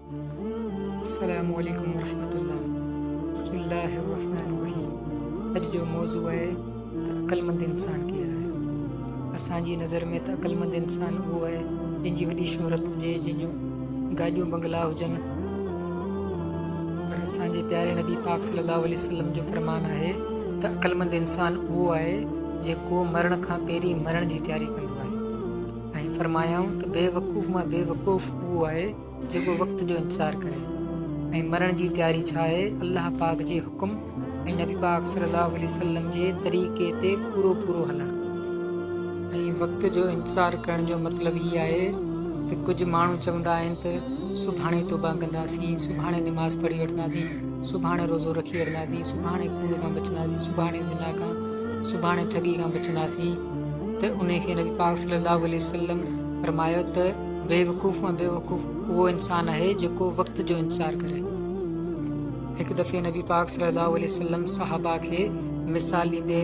السلام عليڪم ورحمة الله بسم الله الرحمن الرحيم اڄ جو موضوع آهي ته عقلمند انسان ڪير آهي اسان جي نظر ۾ ته عقلمند انسان اهو آهي جنهن جي وڏي شهرت هجي جنهن جون گاڏيون بنگلا هجن پر اسان جي پياري نبي پاڪ صلي الله عليه وسلم جو فرمان آهي ته عقلمند انسان اهو آهي جيڪو مرڻ کان پهرين مرڻ جي تياري ڪندو آهي ۽ فرمايائون ته بي وقوف مان بي وقوف اهو آهي جيڪو وقت جو انتظار ڪري ۽ مرڻ جي تياري ڇا آهي الله پاڪ جي حڪم ۽ نبي پاڪ صلي الله عليه وسلم جي طريقي تي پورو پورو هلڻ ۽ وقت جو انتظار ڪرڻ جو مطلب هي آهي ته ڪجهه ماڻهو چوندا آهن ته سڀاڻي توبه ڪنداسين سڀاڻي نماز پڙهي وٺنداسين سڀاڻي روزو رکي وٺنداسين سڀاڻي ڪوڙ کان بچنداسين سڀاڻي زنا کان سڀاڻي ٺڳي کان بچنداسين ته انهي کي نبي پاڪ صلي الله عليه وسلم فرمايو ته بيوقوف مان بيوقوف اهو انسان آهي جيڪو وقت جو انتظار ڪري هڪ دفعي نبي پاڪ صلي الله عليه وسلم صحابه کي مثال ڏيندي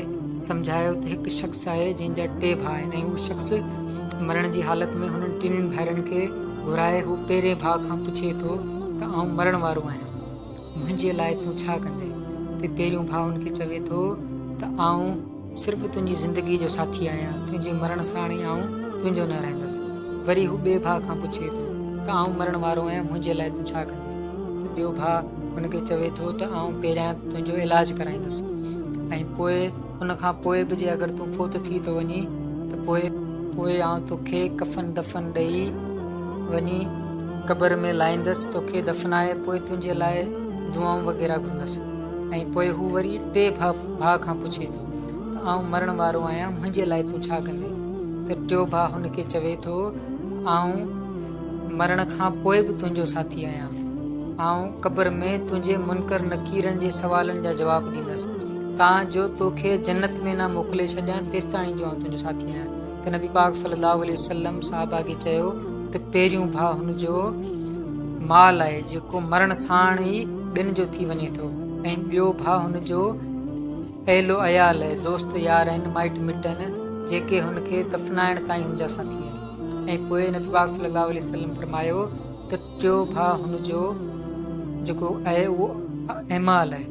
سمجهايو ته هڪ شخص آهي جنهن جا ٽي ڀاء آهن ۽ هو شخص مرڻ جي حالت ۾ هنن ٽنهي ڀائرن کي گهرائي هو پهرين ڀاء کان پڇي ٿو ته آئون مرڻ وارو آهيان منهنجي لاء تون ڇا ڪندين؟ تي پهريون ڀاء هن کي چوي ٿو ته آئون صرف تنهنجي زندگيء جو ساٿي آهيان، تنهنجي مرڻ ساڻ ئي آئون تنهنجو نه رهندس. وري هو ٻئي ڀاء کان پڇي ٿو ته آئون مرڻ وارو آهيان منهنجي لاء تون ڇا ڪندين؟ تي ٻيو ڀاء هن کي چوي ٿو ته آئون پهريان تنهنجو علاج ڪرائيندس ۽ پوء ان کان پوء به جي اگر تون فوت ٿي ٿو وڃين ته پوء؟ پوء آئون توکي ڪفن دفن ڏئي وڃي قبر ۾ لائيندس، توکي دفنائي پوء تنهنجي لاء دعائون وغيره گهرندس ۽ پوء هو وري ٽئين ڀاء کان پڇي ٿو ته آئون مرڻ وارو آهيان منهنجي لاء تون ڇا ڪندين؟ ته ٽيو ڀاء هن کي چوي ٿو ته آئون. مرڻ کان پوء به تنهنجو ساٿي آهيان. آئون قبر ۾ تنهنجي منڪر نڪيرن جي سوالن جا جواب ڏيندس، تان جو توکي جنت ۾ نه موڪلي ڇڏيان تيستاڻي جو آئون تنهنجو ساٿي آهيان. ته نبي پاڪ صلّي اللّٰه عليه وسلّم صحابه کي چيو ته پهريون ڀاء هن جو مال آهي جيڪو مرڻ ساڻ ئي ٻين جو ٿي وڃي ٿو ۽ ٻيو ڀاء هن جو اهل و عيال، دوست يار ۽ مائٽ مٽ آهن جيڪي هن کي دفنائڻ تائين هن جا ساٿي آهن. ۽ پوء نبي پاڪ صلي الله عليه وسلم فرمايو ته ٽيو ڀاء هن جو جيڪو آهي اهو اعمال آهي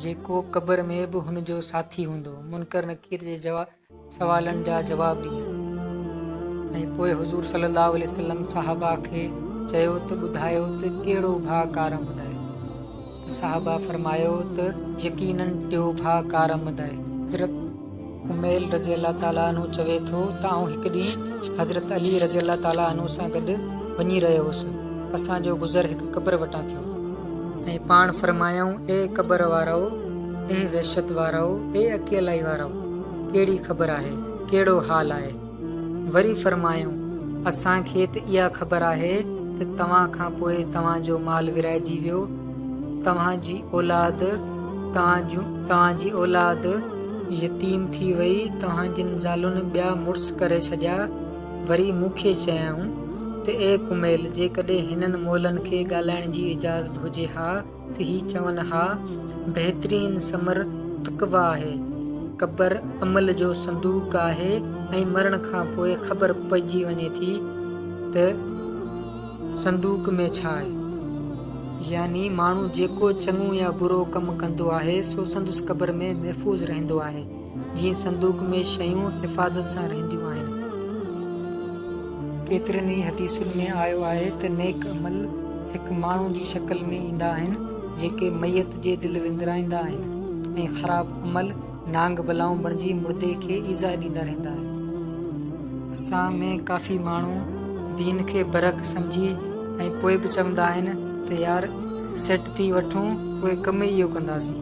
جيڪو قبر ۾ به هن جو ساٿي هوندو منڪر نڪير جي جواب سوالن جا جواب ڏيندو ۽ پوء حضور صلي الله عليه وسلم صحابه کي چيو ته ٻڌايو ته ڪهڙو ڀاء ڪارم هدايت صاحبه فرمايو ته يقيناً ٽيو ڀاء ڪارمد آهي. حضرت ڪميل رضي الله تعالٰي عنه چوي ٿو ته آئون هڪ ڏينهن حضرت علي رضي الله تعالٰي عنه سان گڏ وڃي رهيو هوس، اسان جو گذر هڪ قبر وٽان ٿيو. ۽ پاڻ فرمايائون اي قبر وارؤ، اي وحشت وارؤ، اي اڪيلائي وارؤ، ڪهڙي خبر آهي، ڪهڙو حال آهي؟ وري فرمايائون، اسان کي ته اها خبر آهي ته توهان کان پوء توهان جو مال ورهائجي ويو، توهان جي اولاد، توهان جون، توهان جي اولاد، يتيم ٿي وئي، توهان جن زالن ٻيا مڙس ڪري ڇڏيا، وري مون کي چيائون ته اي ڪميل جيڪڏهن هنن مئلن کي ڳالهائڻ جي اجازت هجي ها ته هي چون ها بهترين ثمر تقويٰ آهي. قبر عمل جو صندوق آهي ۽ مرڻ کان پوء خبر پئجي وڃي ٿي ته صندوق ۾ ڇا آهي. يعني ماڻهو جيڪو چڱو يا برو ڪم ڪندو آهي سو سندس قبر ۾ محفوظ رهندو آهي. جيئن صندوق ۾ شيون حفاظت سان رهنديون آهن. ڪيترن ئي حديثن ۾ آيو آهي ته نيڪ عمل هڪ ماڻهو جي شڪل ۾ ايندا آهن جيڪي ميت جي دل وندرائيندا آهن ۽ خراب عمل نانگ بلائون بڻجي مردي کي ايذاء ڏيندا رهندا آهن. اسان ۾ ڪافي ماڻهو دين کي برحق سمجهي ۽ پوء به چوندا آهن ته يار سيٽ ٿي وٺون پوء ڪم ئي اهو ڪنداسين.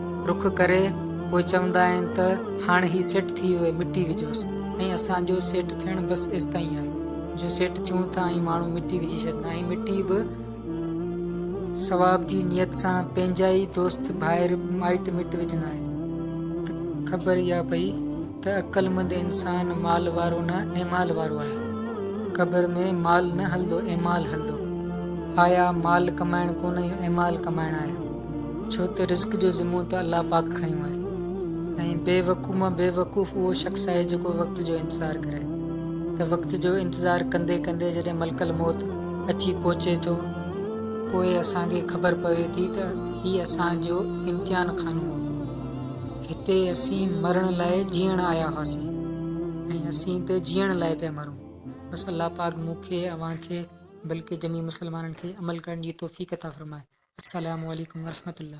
رخ ڪري پوء چوندا آهن ته هاڻ هي سيٽ ٿي ويو مٽي وجهوس ۽ اسان جو سيٽ ٿيڻ بس ايستائين آهي جو سيٽ ٿيون ٿا ۽ ماڻهو مٽي وجهي ڇڏن ۽ مٽي به ثواب جي نيت سان پنهنجا ئي دوست ڀائر مائٽ مٽ وجهندا آهن ته خبر اها پئي ته عقلمند انسان مال وارو نه ايمال وارو آهي. قبر ۾ مال نه هلندو ايمال هلندو. آيا مال ڪمائڻ ڪونه اهو ايمال ڪمائڻ آهي. ڇو ته رزق جو ذمو ته الله پاڪ کنيو آهي. ۽ بي وقوف مان بي وقوف اهو شخص آهي جيڪو وقت جو انتظار ڪري. ته وقت جو انتظار ڪندي ڪندي جڏهن ملڪ الموت اچي پهچي ٿو. پوء اسان کي خبر پوي ٿي ته هي اسان جو امتحان خانو هو. هتي اسين مرڻ لاء جيئڻ آيا هئاسين ۽ اسين ته جيئڻ لاء پيا مرون. بس الله پاڪ مون کي، اوهان کي بلڪه جميع مسلمانن کي عمل ڪرڻ جي توفيق عطا فرمائي. السلام عليڪم ورحمة الله.